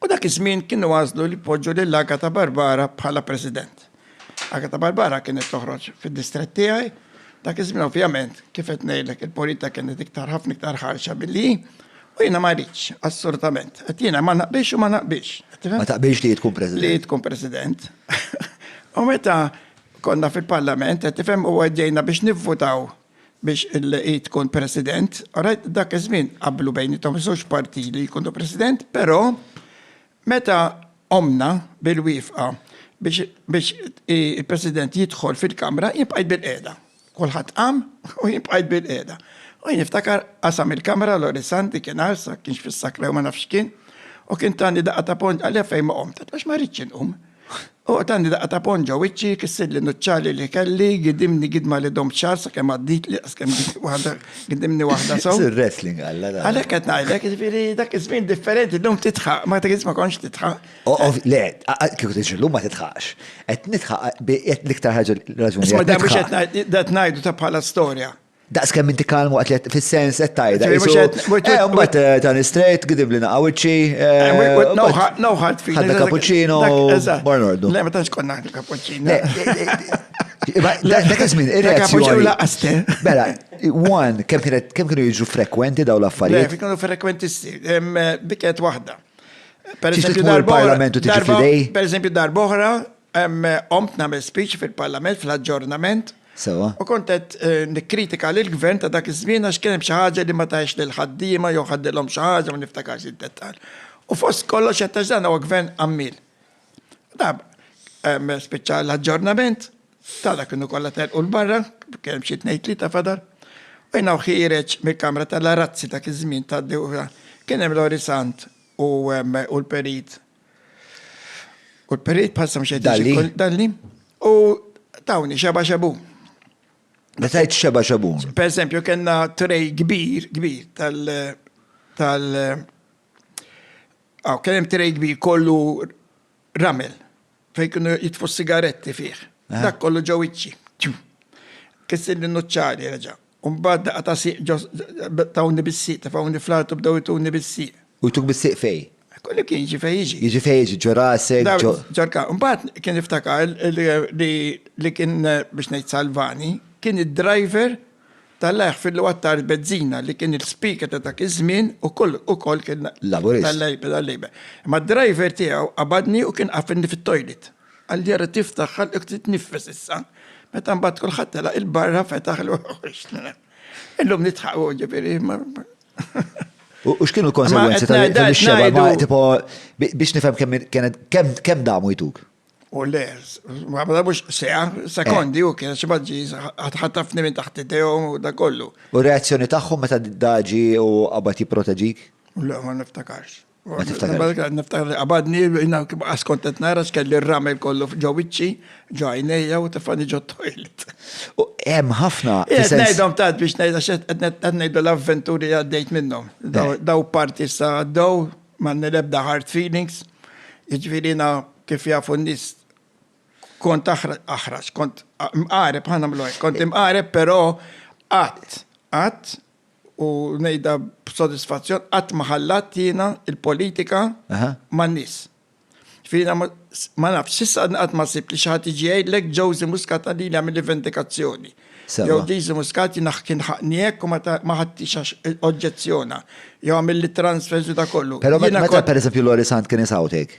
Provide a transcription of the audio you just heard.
U dak iż-żmien kienu għażlu li jpoġġu lil Agata Barbara bħala President. Agata Barbara kienet toħroġ fid-distrett tiegħi, dak iż-żmien ovvjament kif qed ngħidlek il-politika kienet iktar ħafna iktar ħarxa milli hi, u jiena ma ridtx, assolutament. Qed jiena ma naqbilx u ma naqbilx. Ma taqbilx li hi tkun President. Li hi tkun President. U meta konna fil-Parlament, qed tifhem u għeddejna biex nivvutaw biex hi tkun President, alright, dak iż-żmien qablu bejniethom iż-żewġ parti li jkunu President, però meta ommna bil-wiefqa biex biex il-President jidħol fil-Kamra jien bqajt bilqiegħda. Kulħadd qam u jien bqajt bilqiegħda. U jien niftakar qasam il-Kamra Lorisan dik inhar sa kienx fis-sakra jew ma nafx x'kien u kien tani daqqa ta' ponġ għalija fejn ma qomt. Għax ma ridtx inqum. Oqgħod għandi daqqa ta' ponn ġo wiċċi, kissirli nuċċali li kelli, gidimni gidma li domt xahar sakemm għadditli għax kemm waħda gidimni waħda sew. Isir wrestling alla da. Għalhekk qed ngħidlek, jiġifieri dak iż-żmien differenti llum titħaq, ma dak ma kontx titħaq. Le, kieku tiġi llum ma titħaqx. Qed nitħaq l-iktar ħaġa raġuni. Isma' da mhux qed ngħidu ta' bħala storja. Daqs kemm inti kalm waqt li fis-sens qed tajda. Eh, mbagħad eh, ta' nistrejt, gidib li naqa' wiċċi. No hard feelings. Ħadda cappuccino, bar nordu. Le, ma tantx konna ħadda cappuccino. Dak iż-żmien ir-reazzjoni. laqaste. Bella, one, kemm kienet kemm kienu jiġu frekwenti daw l-affarijiet? Le, kienu frekwenti biket waħda. Per eżempju, darba. Per eżempju, darba oħra, Qomt nagħmel speech fil-Parlament fl-aġġornament. Sewwa. U kont qed nikkritika lill-Gvern ta' dak iż-żmien għax kien hemm xi ħaġa li ma tahiex lill-ħaddiema jew ħaddilhom xi ħaġa, ma niftakarx id-dettall. U fost kollox qed ngħid dan huwa Gvern għammiel. Spiċċa l-aġġornament, tara kienu kollha telqu 'l barra, kien hemm xi tnejn tlieta fadal, u jiena u ħiereġ mill-kamra tal-arazzi dak iż-żmien tad-dewra, kien hemm Lori Sant u l-Perit U l-perit bħal samxed. Dalli. Dalli. U tawni xeba xebu. Meta jt xeba xebu. Per esempio, kena trej kbir, kbir tal. tal. Aw, kienem trej kbir kollu ramel. Fej kienu jitfu sigaretti fih. Eh. Dak kollu ġew iċċi. Kissin li nuċċari reġa. U mbagħad daqqa ta' sieq ġo tawni bis-sieq, tefgħuni fl-art u bdew ituni bis-sieq. U jtuk bis-sieq fejn? Kull imkien, jiġi fejn jiġi. Jiġi fejn jiġi, ġo rasek, ġo. Ġo l-kapp. Mbagħad kien iftakar li kien, biex ngħid salvani, kien id-driver tal-Alla jaħfirlu għat-tarf bezzina li kien il-speaker ta' dak iż-żmien u kull ukoll kien. Laburist. Tal-Labour. Imma d-driver tiegħu qabadni u kien qafilni fit-toilet. Għall-jara tiftaħ għalhekk titniffes issa, meta mbagħad kulħadd telaq il-barra fetaħ l-uħuħ. Illum nitħaqu ġifieri. U x'kienu l-konsegwenzi tal-xeba tipo biex nifhem kemm kienet kemm damu jtuk? U le, ma mhux seha, sekondi u kien xi maġġi ħatafni minn taħt idejhom u da kollu. U reazzjoni tagħhom meta daġi u qabad jipproteġik? Le, ma niftakarx. Niftakar li qabadni, jina askontet nara x'kelli r-ramel kollu ġowiċċi, ġajnejja u tefani ġo toilet. U hemm ħafna. Ngħidhom tad biex ngħidha qed ngħidu l-avventuri għaddejt minnhom. Daw parti sa għaddew m'għandni l-ebda hard feelings. Jiġifieri jiena kif jafu n-nies kont aħrax, kont mqareb, ħa nagħmlu hekk, kont imqareb però qatt, qatt u ngħidha b'sodisfazzjon qatt ma ħallat jiena l-politika man-nies. Jiġifieri ma nafx, s'issa qatt ma sibt li xi ħadd jiġi jgħidlek Josie Muscat għalili għamilli vendikazzjoni. Jew Josie Muscat jiena kien ħaqqni hekk u ma ħadtix għax oġġezzjona. Jew għamilli transfers u dak kollu. Però meta pereżempju Lori Sant kien isawtek,